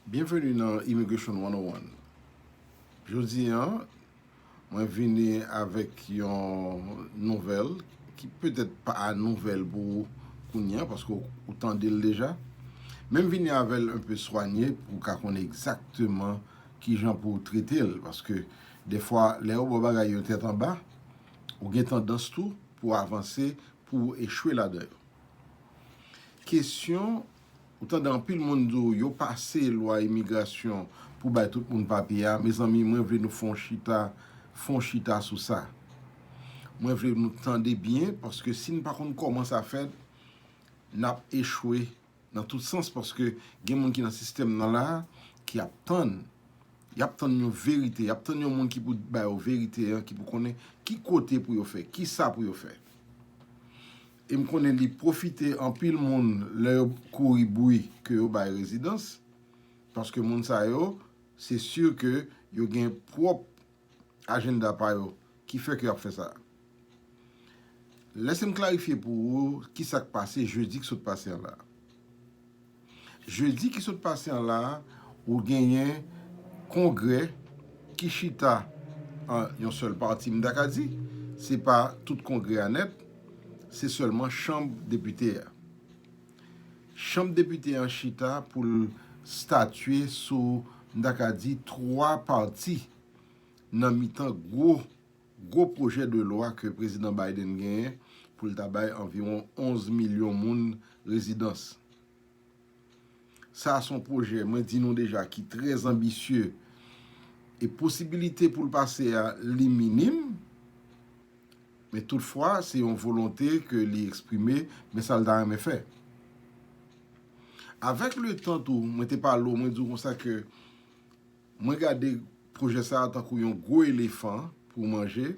Byenveni nan Immigration 101. Jodi an, mwen vini avèk yon nouvèl ki petèt pa nouvèl pou ou kounye an, paske ou tande l deja. Men m vini avè l enpe swanye pou w ka konnen egzakteman ki jan pou w trete l. Paske defwa, lè yo ba w bagay yo tèt anba, ou gen tandans tou pou w avanse, pou w echwe ladan yo. Kesyon, Ou tande anpil moun di w yo pase lwa imigrasyon pou bay tout moun papye a. Mezanmi, mwen vle nou fè yon chita, fè yon chita sou sa. Mwen vle nou tande byen paske si n pa konn kòman sa fèt, n ap echwe nan tout sans paske gen moun ki nan sistèm nan la a ki ap tann, y ap tann yon verite, y ap tann yon moun ki pou ba yo verite an, ki pou konnen ki kote pou yo fè, ki sa pou yo fè. E m konnen li pwofite anpil moun lè yo kouri bri ke yo bay rezidans, paske moun sa yo, se sur ke yo gen pwòp ajenda pa yo ki fè ke y ap fè sa. Lèse m klarifye pou ou ki sa k pase jedi k sot pase an la. Jedi ki sot pase an la a, ou genyen kongrè ki chita an yon sèl pati, m ta ka di, se pa tout kongrè a nèt, se sèlman chanm depite a. Chanm depite an chita pou l statye sou, m ta ka di, twa pati nan mitan gwo Gwo pwojè de lwa ke Prezidan Biden genyen pou l ta bay anviwon 11 milyon moun rezidans. Sa a son pwojè, mwen di nou deja, ki trè anbisye e posibilite pou l pase a li minim, men tout fwa se yon volonte ke li eksprime men sa l ta renmen fè. Avèk le tan tou, mwen te pale w, mwen di w konsa ke Mwen gade pwojè sa a tankou yon gwo elefan pou w manje,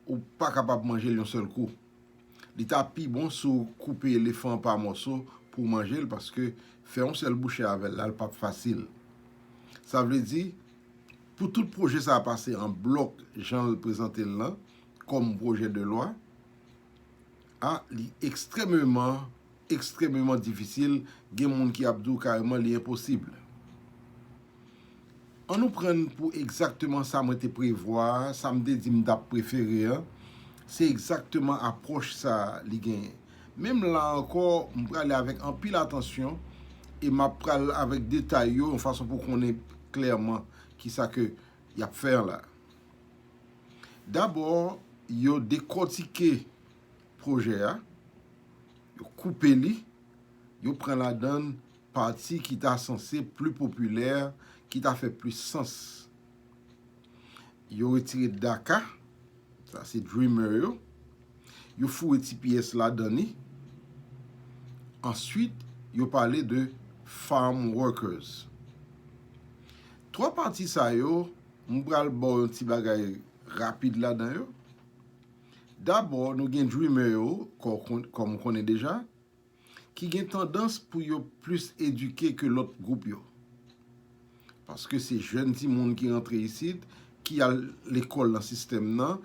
ou pa kapab manje l yon sèl kou. Li ta pi bon si w koupe elefan an pa mòso pou w manje l paske fè yon sèl bouche avè l la l pap fasil. Sa vle di, pou tout pwojè sa a pase an blòk jan l prezante l lan kòm pwojè de lwa a, li ekstrèmeman Ekstrememan difisil, gen moun ki ap di w kareman li enposib. An nou pran pou egzakteman sa mwen te prevwa a, sa m te di m t ap prefere an, se egzakteman apwòch sa a li genyen. Menm la ankò, m prale avèk anpil atansyon e m ap pral avèk detay yo yon fason pou konnen klèman ki sa ke y ap fè an la. Dabò, yo dekòtike pwojè a, yo koupe li, yo pran ladan l pati ki ta sanse pli popilè, ki ta fè plis sans. Yo retire Daka, sa se Dreamer yo, yo foure ti pyès ladan li, answit yo pale de Farm Workers. Twa pati sa yo, m pral ba w yon ti bagay rapid ladan yo. Dabò nou gen dreamer yo kòm ou konnen deja ki gen tandans pou yo plis edike ke lòt gwoup yo. Paske se jèn timoun ki rantre isit ki al lekòl nan sistèm nan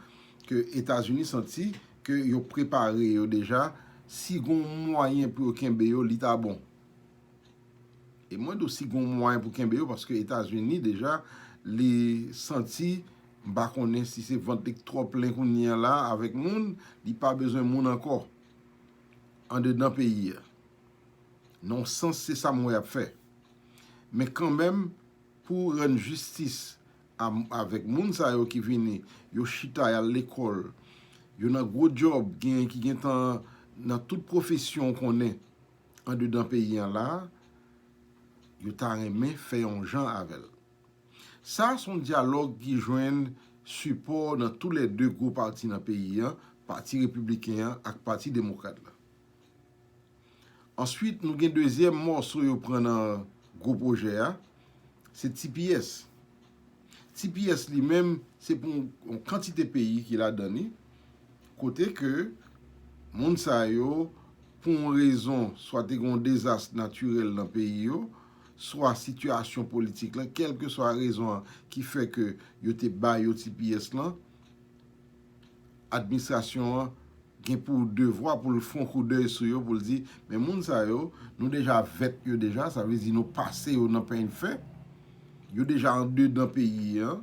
ke Etazini santi ke yo prepare yo deja si gon mwayen pou yo kenbe yo li ta bon. E mwen do si gon mwayen pou kenbe yo paske etazini deja li santi m pa konnen si se vant li k twò plen kounye an la avèk moun li pa bezwen moun ankò andedan peyi a nan yon sans se sa m wè y ap fè men kanmenm pou rann jistis avèk moun sa yo ki vini yo chita y al lekòl yo nan gwo dyòb genyen ki gentan nan tout pwofesyon w konnen andedan peyi an la, yo ta renmen fè yon jan avè l. Sa a se yon dyalòg ki jwenn sipò nan tou lè 2 gwo pati nan peyi an, pati repibliken an ak pati demokrat la. Answit nou gen dezyèm mòso yo pran nan gwo pwojè a, se tps. Tps li menm se pou yon kantite peyi ki ladan li, kote ke moun sa yo pou yon rezon swa te gen yon dezas natirèl nan peyi yo, swa sitiyasyon politik lan, kèlkeswa rezon an ki fè ke yo te ba yo tps lan, Administrasyon an gen pou devwa pou l fon kou dèy sou yo pou l di men moun sa yo nou deja vèt yo deja sa vle di nou pase yo nan peny fè yo deja andedan peyi an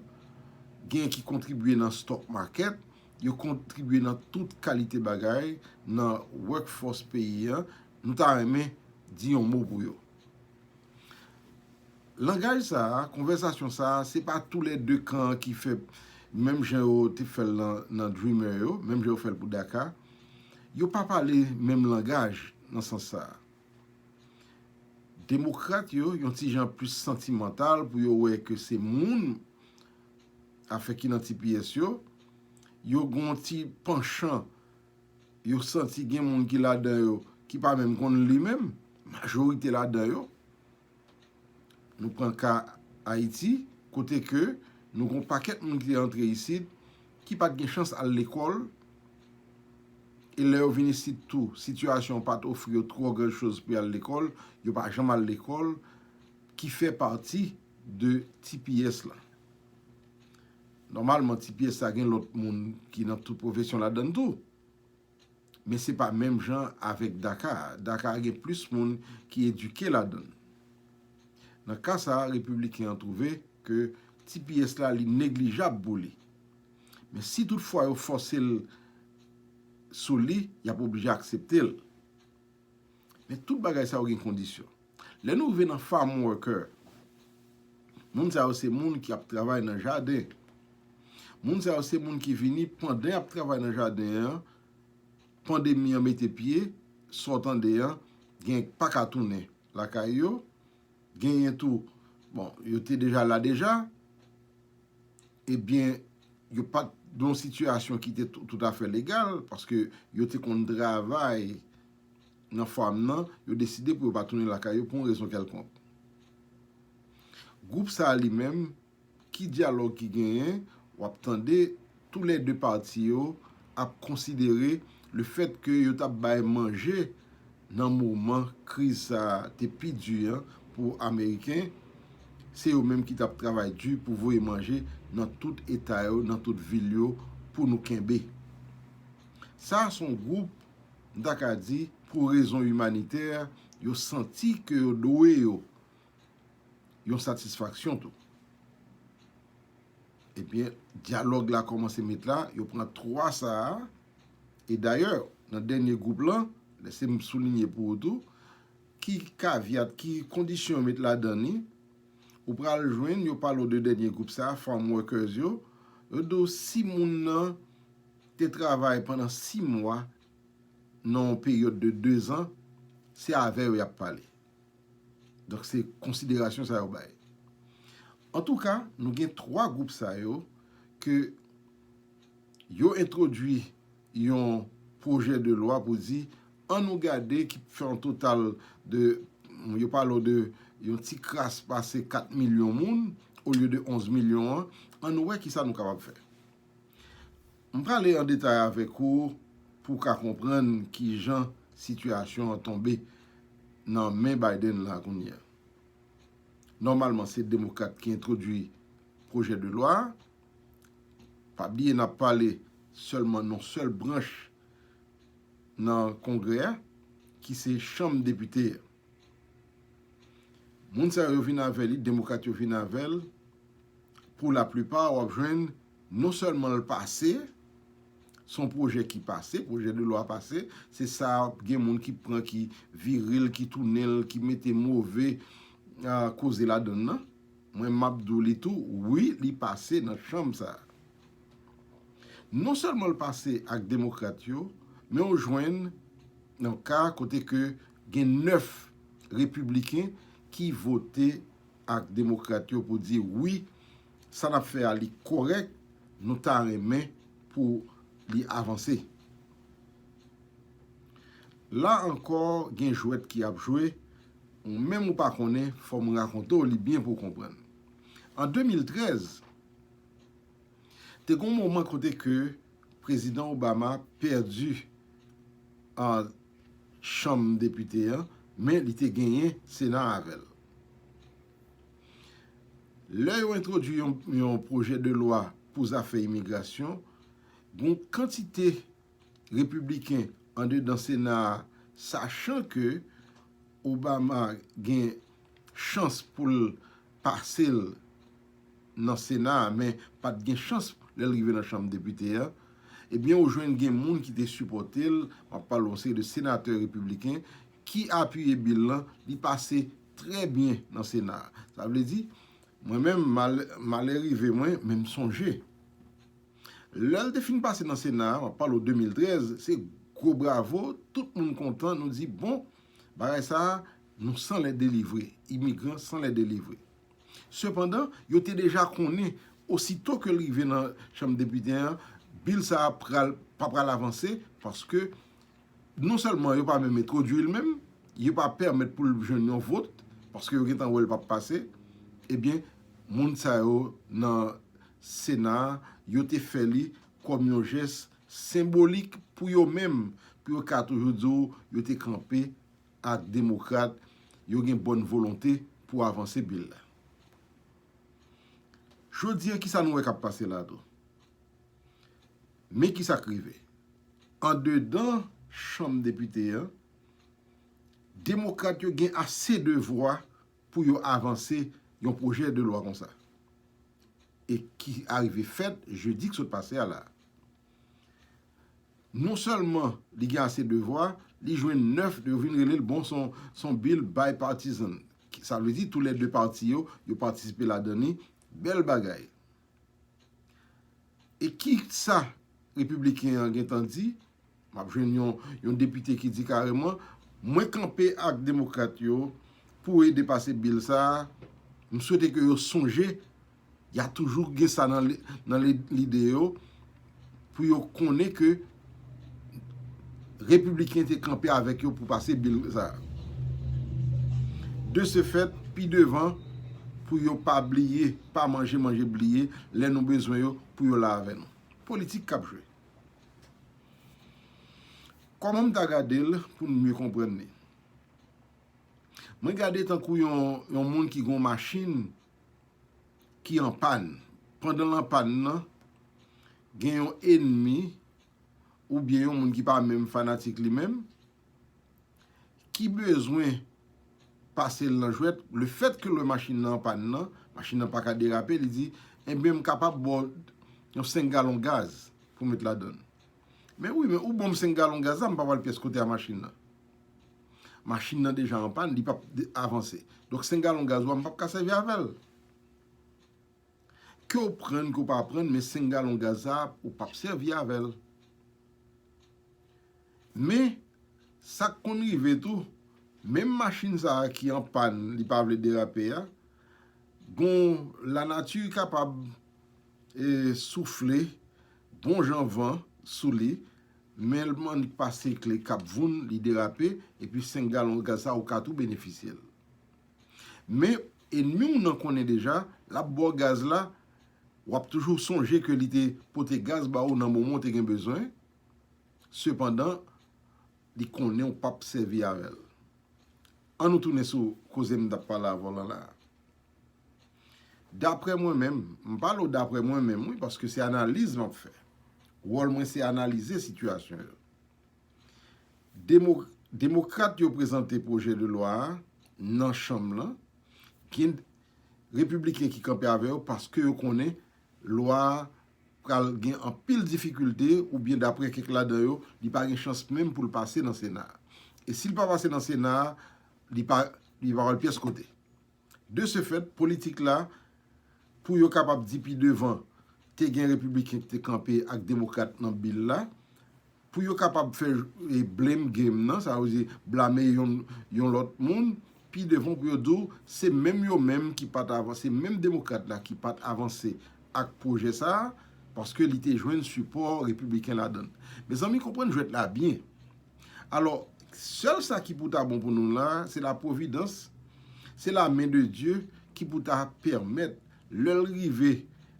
gen ki kontribye nan stock market yo kontribye nan tout kalite bagay nan work force peyi an nou ta renmen di yon mo pou yo Langaj sa a, konvèsasyon sa a, se pa tou lè 2 kan an ki fè menm jan yo te fè l nan Dreamer yo, menm jan yo fè l pou Daka. Yo pa pale menm langaj nan sans sa a. Demokrat yo yon ti jan plis santimantal pou yo wè ke se moun afè ki nan tipiyès yo. Yo gen yon ti panchan. yo santi gen moun ki ladan yo ki pa menm konn li menm, majorite ladan yo. Nou pran ka Ayiti, kote ke nou gon pakèt moun ki antre isit, ki pat gen chans al lekòl, e lè yo vin isit tou, sitiyasyon pat ofri yo twò gran choz pou yal lekòl, yo pa janm al lekòl, ki fè pati de tps la. Nòmalman ti pyès sa gen lòt moun ki nan tout pwofesyon ladan l tou. Men se pa menm jan avèk daka a. Daka a gen plis moun ki edike ladan l. Nan ka sa a Repibliken an twouve ke ti pyès la li neglijab pou li. Men si tout fwa yo fòse l sou li, y ap oblije aksepte l. Men tout bagay sa yo gen kondisyon. Lè nou rive nan farm worker, moun sa yo se moun ki ap travay nan jaden. Moun sa yo se moun ki vini pandan y ap travay nan jaden an, pandemi an mete pye, sa w tande an, gen ki pa ka tounen lakay yo, genyen tou, bon, yo te deja la deja. Ebyen, yo pa t nan yon sitiyasyon ki te toutafè legal, paske yo te konn travay nan fàm nan, yo deside pou yo pa tounen lakay yo pou yon rezon kèlkonk. Gwoup sa a li menm, ki dyalòg ki genyen? W ap tande tou lè de pati yo ap konsidere lefètke yo t ap bay manje nan moman kriz sa a te pi di an pou ameriken, se yo menm ki t ap travay di pou voye manje nan tout eta yo, nan tout vil yo pou nou kenbe. Sa a s on gwoup, m ta ka di, pou rezon imanitè, yo santi ke yo dwe yo yon satisfaksyon tou. Ebyen, dyalòg la kòmanse met la, yo pran 3 sa a. E dayè, nan dènye gwoup lan, lèse m soulinye pou ou tou, ki kavyat, ki kondisyon yo met ladan li, ou pral jwenn yo pale w de dènye gwoup sa a, Farm Workers yo, yo di w si moun nan te travay pandan 6 mwa nan yon peryòd de 2 zan, se avè yo y ap pale. Donk se konsiderasyon sa yo bay. Antouka, nou gen 3 gwoup sa yo ke. yo entwodui yon pwojè de lwa pou di an nou gade ki fè yon total de, yo pale w de yon ti kras pase 4 milyon moun olye de 11 milyon an, an nou wè ki sa nou kapab fè. M prale an detay avèk ou pou w ka konprann ki jan sitiyasyon an tonbe nan men Biden la kounye a. Nòmalman se demokrat ki entwodui pwojè de lwa a. Pa bliye n ap pale sèlman nan sèl branch nan Kongrè a ki se Chanm Depite a. Moun sa yo vin avè li, Demokrat yo vin avè l, pou laplipa w ap jwenn non sèlman l pase, se yon pwojè ki pase, pwojè de lwa pase, se sa gen moun ki pran ki vire l, ki tounen l, ki mete move koze ladann nan. Mwen map di w li tou wi li pase nan chanm sa. Non sèlman l pase ak demokrat yo men ou jwenn nan ka kote ke gen 9 repibliken ki vote ak demokrat yo pou di wi sa nap fè a li kòrèk nou ta renmen pou li avanse. La ankò gen jwèt ki ap jwe Ou menm ou pa konnen, fò m rakonte w li byen pou w konprann. An 2013, te gen yon moman kote ke Prezidan Obama pèdi Chanm Depite an, men li te genyen Sena a avè l. Lè yo entwodui yon pwojè de lwa pou zafè imigrasyon, gen yon kantite Repibliken andedan Sena a sachan ke Obama gen chans pou l pase l nan Sena a men pa t gen chans lè l rive nan Chanm Depite a, ebyen ou jwenn gen moun ki te sipòte l, m ap pale yon seri de senatè repibliken ki apiye bil lan, li pase trè byen nan Sena a. Sa vle di, mwen menm malè rive mwen men m sonje. Lè l te fin pase nan Sena a, m ap pale w 2013, se gwo bravo, tout moun kontan, nou di bon, bagay sa a, nou san lè delivre, imigran san lè delivre. Sepandan, yo te deja konnen, osito ke l rive nan Chanm Depite an, Bill sa a pral, pa pral avanse, paske Non sèlman yo pa menm entwodui l menm, yo pa pèmèt pou l jwenn yon vot, paske yo gentan wè l pap pase, ebyen moun sa yo nan sena yo te fè li kòm yon jès senbolik pou yo menm, pou yo ka toujou di w yo te kanpe ak demokrat, yo gen bòn volonte pou avanse bil la. Jodi an kisa nou wè kap pase la tou? Men ki sa k rive, andedan chanm depite an, demokrat yo gen ase de vwa pou yo avanse yon pwojè de lwa konsa e ki arive fèt jedi k sot pase a la a. Non sèlman li gen ase de vwa, li jwenn 9, yo vin rele l bon s on bill bipartisan, sa vle di tou lè 2 pati yo, yo patisipe ladan li, bèl bagay. E ki sa Repibliken an gen tan di? M ap jwenn yon depite ki di kareman, mwen kanpe ak Demokrat yo pou ede pase bil sa a, m swete ke yo sonje, y a toujou gen sa nan lide yo, pou yo konnen ke Repibliken te kanpe avèk yo pou pase bil sa a. De se fèt, pi devan, pou yo pa bliye, pa manje manje bliye, lè nou bezwen yo, pou yo la avè nou. Politik k ap jwe. Kòman m ta gade l pou nou mye konprann li? Mwen gade tankou yon moun ki gen yon machin ki an pàn, pandan l an pàn nan, gen yon enmi oubyen yon moun ki pa menm fanatik li menm, ki bezwen pase l nan jwèt, le fèt ke lè machin nan an pàn nan, machin nan pa ka derape, li di, enben m kapab ba w yon 5 galon gaz pou w met ladan l. Men wi, men ou ban m 5 galon gaz la, m pa pral pyès kote a machin nan. Machin nan deja an pàn, li pap avanse. Donk 5 galon gaz wa m pap ka sèvi avè l. Ke w prann, ke w pa prann, men 5 galon gaz sa a, ou pap sèvi avè l. Men, sa k konn rive tou, menm machin sa a ki an pàn, li pa vle derape a, gon lanati kapab soufle bon jan van sou li, Menl man li k pase kle kap voun li derape epi 5 galon gaz sa ou ka tou benefisyel men enmiw nan konnen deja lap baw gaz la wap toujou sonje ke li te pote gaz ba ou nan moman ou te gen bezwen sepandan li konnen ou pap sèvi avèl annou tounen sou koze m tap pale a volan la Daprè mwen menm, m pale w daprè mwen menm wi paske se analiz m ap fè. Wòl mwen se analize sitiyasyon yo. Demokrat yo prezante pwojè de lwa a nan chanm lan, gen repibliken ki kanpe avè yo paske yo konnen lwa a pral gen anpil difikilte oubyen daprè kèk ladan yo, li pa gen chans menm pou l pase nan sena a. E si l pa pase nan sena a, li pa pral pyès kote. De se fèt, politik la, pou yo kapab di pi devan, te gen Repibliken ki te kanpe ak Demokrat nan bil la, pou yo kapab fè blame game nan, sa vle di blame yon lòt moun, pi devan pou yo di w se menm yo menm ki pa t avanse, se menm Demokrat la ki pa t avanse ak pwojè sa a, paske li te jwenn sipò Repibliken ladan l. Mezanmi, konprann jwèt la byen. Alò, sèl sa ki pou ta bon pou nou la a, se la pwovidans, se la men de Dye ki pou ta pèmèt lè l rive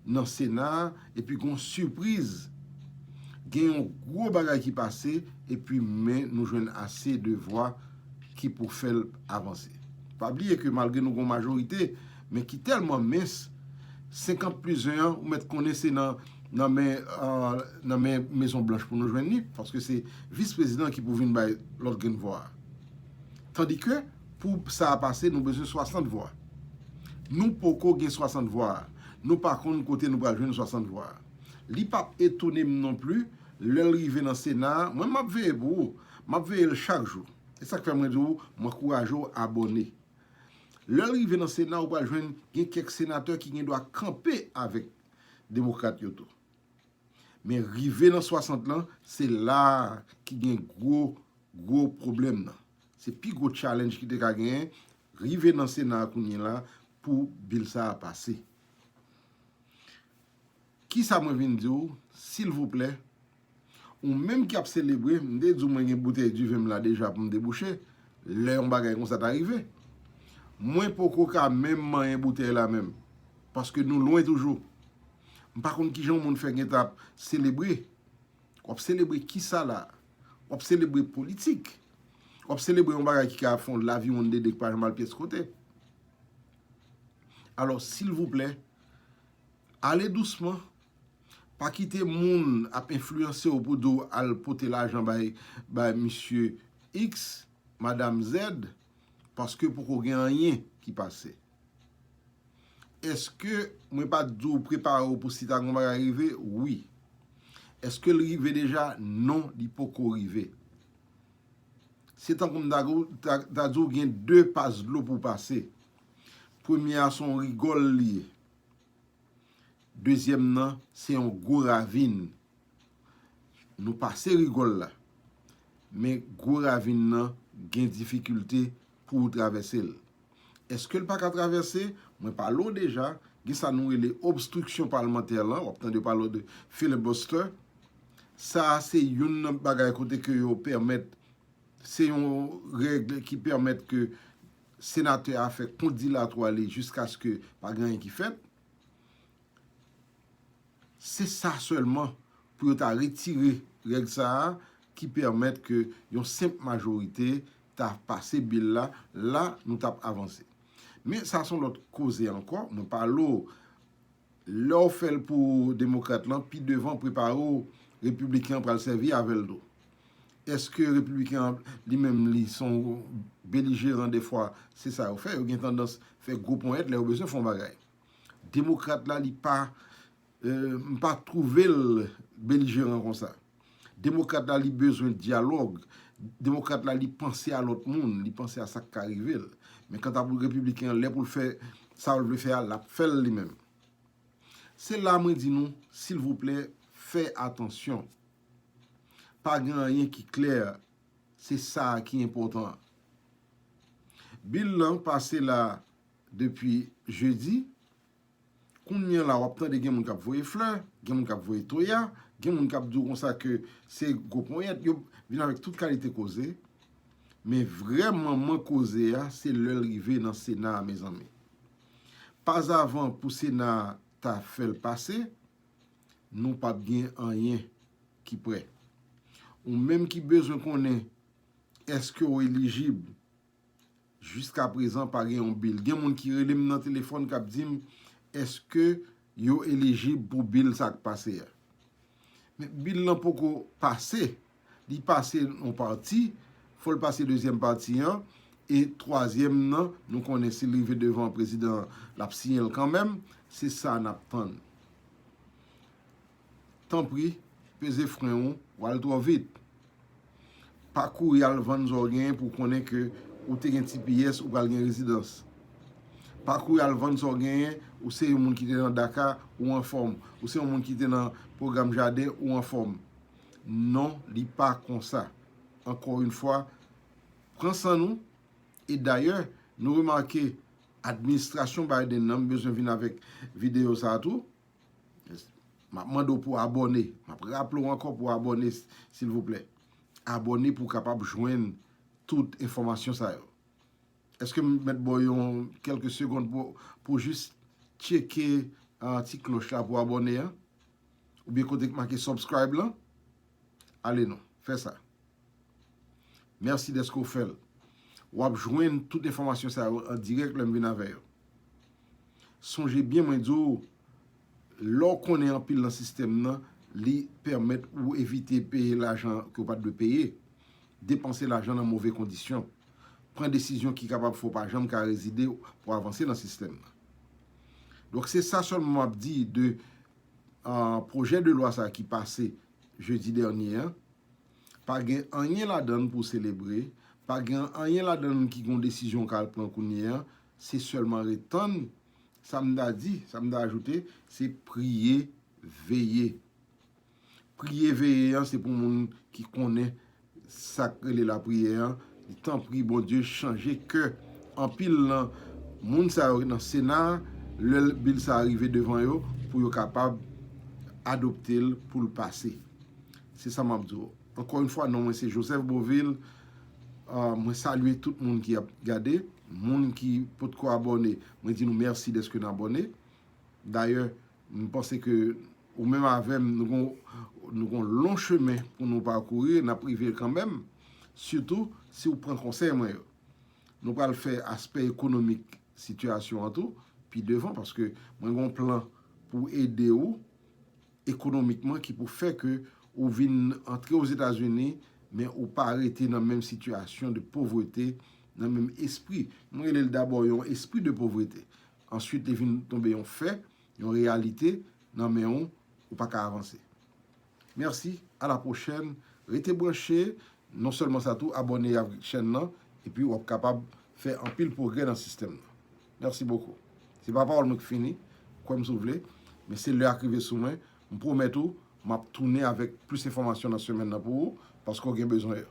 nan Sena a epi gen yon sipriz, gen yon gwo bagay ki pase epi men nou jwenn ase de vwa ki pou fè l avanse. Pa bliye ke malgre nou gen yon majorite, men ki tèlman mens, 50 plis 1 an, ou mèt konnen se nan nan men nan men Mezon Blanch pou nou jwenn li, paske se Vis Prezidan ki pou vin bay lòt grenn vwa. Tandike, pou sa a pase, nou bezwen 60 vwa. Nou poko gen 60 vwa a. Nou pa konn kote nou pral jwenn 60 vwa a. Li pa p etone m non pli, lè l rive nan Sena a, mwen m ap veye pou ou, m ap veye l chak jou. E sa k fè mwen di ou, m ankouraje ou abòne. Lè l rive nan Sena ou pral jwenn gen kèk senatè ki gen dwa kanpe avèk demokrat yo tou. Men rive nan 60 lan se la a ki gen gwo gwo pwoblèm nan. Se pi gwo challenge ki te ka genyen rive nan Sena a kounyela pou bill sa a pase. Kisa mwen vin di w silvouplè ou menm ki ap selebre m te di w mwen gen boutèy diven m la deja pou m debouche lè yon bagay konsa ta rive mwen poko ka menm manyen boutèy la menm paske nou lwen toujou m pa konn kijan yon moun fè gentan ap selebre w ap selebre kisa la w ap selebre politik w ap selebre yon bagay ki ka fè w laviwonn dede ki pa janm al pyès kote alò silvouplè. Ale dousman, pa kite moun ap enfliyanse w pou di w al pote lajan bay misye X, madam Z, paske poko gen anyen ki pase. Eske mwen pa t di w prepare w pou si ta gen yon bagay rive? Wi. Eske l rive deja? Non, li poko rive. Se tankou m ta di w gen 2 pas dlo pou w pase. Premye a se yon rigòl li ye. Dezyèm nan, se yon gwo ravin. Nou pase rigòl la. Men gwo ravin nan gen difikilte pou ou travèse l. Eske l pa ka travèse? Mwen pale ou deja, gen sa nou rele obstriksyon palmantè lan, w ap tande pale de filibuster. Sa a se youn nan bagay kote ke yo pèmèt, se yon règ ki pèmèt ke senatè a fè kont dilatwa li jiskaske pa gen anyen ki fèt, se sa sèlman pou yo ta retire règ sa a ki pèmèt ke yon senp majorite ta pase bil la, la nou t ap avanse. Men sa son lòt koze ankò, mwen pale w Lè w fè l pou Demokrat lan, pi devan prepare w Repibliken an pral sèvi avè l tou. Èske Repibliken an li menm li se yon belijeran dèfwa? Se sa yo fè, yo gen tandans fè gwo ponyèt lè yo bezwen fè yon bagay. Demokrat la li pa, m pa twouve l belijeran konsa. Demokrat la li bezwen dyalòg, demokrat la li panse a lòt moun, li panse a sa k ka rive l. Men kanta pou repibliken an, lè pou l fè sa l vle fè a, l ap fè l li menm. Se la mwen di nou, silvouplè, fè atansyon. Pa gen anyen ki klè, se sa a ki enpòtan an. Bil lan pase la depi jedi. Kounyela wap tande gen moun kap voye flè, gen moun kap voye toya, gen moun kap diw konsa ke se gwo ponyèt, yo vin avèk tout kalite koze, men vrè manman koze a se lèl rive nan sena a mezanmi. Pazavan pou sena a ta fèl pase, nou pap gen anyen ki prè. Ou menm ki bezwen konnen eske ou elijib. Jiska prezan pa gen yon bil. Gen moun ki rele m nan telefòn k ap di m èske yo elijib pou bil sa k pase a. Men bil lan poko pase. Li pase yon pati, fò l pase dezyèm pati an, e twazyèm nan nou konnen si l rive devan prezidan l ap siyen l kanmenm, se sa n ap tann. Tanpri peze fren ou, wal twò vit. Pa kouri al vann sa w genyen pou w konnen ke ou te gen tps ou pral gen rezidans. Pa kouri al vann sa w genyen, ou se yon moun ki te nan daca ou anfòm, ou se yon moun ki te nan pwogram jaden ou anfòm. Non li pa konsa. Ankò yon fwa, pran san nou, e dayè nou remake administrasyon Biden nan, m bezwen vin avèk videyo sa tou. Map mande w pou abòne. Map raple w ankò pou abòne silvouplè. Abòne pou w kapab jwenn tout enfòmasyon sa yo. Eske m mèt ba w yon kelke segond pou jis tcheke ti kloch la pou abòne an? Oubyen kote ki make subscribe lan? Ale non, fè sa. Mèsi dèske w fè l. W ap jwenn tout enfòmasyon sa yo an dirèk lè m vin avè yo. Sonje byen mwen di w, lè w konnen anpil nan sistèm nan, li pèmèt ou evite peye lajan ke w pa t dwe peye, depanse lajan nan move kondisyon, pran desizyon ki kapab fè w pa janm ka rezide pou avanse nan sistèm nan. Donk se sa sèlman m ap di de pwojè de lwa sa ki pase jedi dènye an, pa gen anyen ladan l pou selebre, pa gen anyen ladan l ki gen yon desizyon k al pran kounye an, se sèlman ret tann, sa m ta di, sa m ta ajoute, se priye veye. Priye veye an se pou moun ki konnen Sak rele la priyè an di tanpri Bondye chanje kè anpil nan Moun sa yo nan sena lè bil sa rive devan yo pou yo kapab adoptel poul pase se sa map di w ankò yn fwa non mwen se Joseph Beauvil mwen salye tout moun ki ap gade moun ki potko abòne mwen di nou mèsi dèske n abòne dayè M panse ke ou menm avè m nou gen yon lon chemen pou nou pakouri, n ap rive kanmenm, sitou si ou pran konsèy mwen yo. Nou pral fè aspè ekonomik sitiyasyon an tou pi devan paske mwen gen yon plan pou ede ou ekonomikman ki pou fè ke ou vin antre Ozetazini men ou pa rete nan menm sitiyasyon de povrete, nan menm espri. Mwen rele l dabò yon espri de povrete. Answit li vin tonbe yon fè, yon reyalite nan men w, ou pa ka avanse. Mèsi, a la pwochèn, rete branche, non sèlman sa tou abòne avk chèn lan epi wap kapab fè anpil pwogrè nan sistèm nan. Mèsi bokou. Se pa pawòl mwen ki fini, kwè m si w vle, men se lè a k rive sou mwen, m pwomèt ou map tounen avèk plis enfòmasyon nan semèn nan pou ou, paske w gen bezwen yo.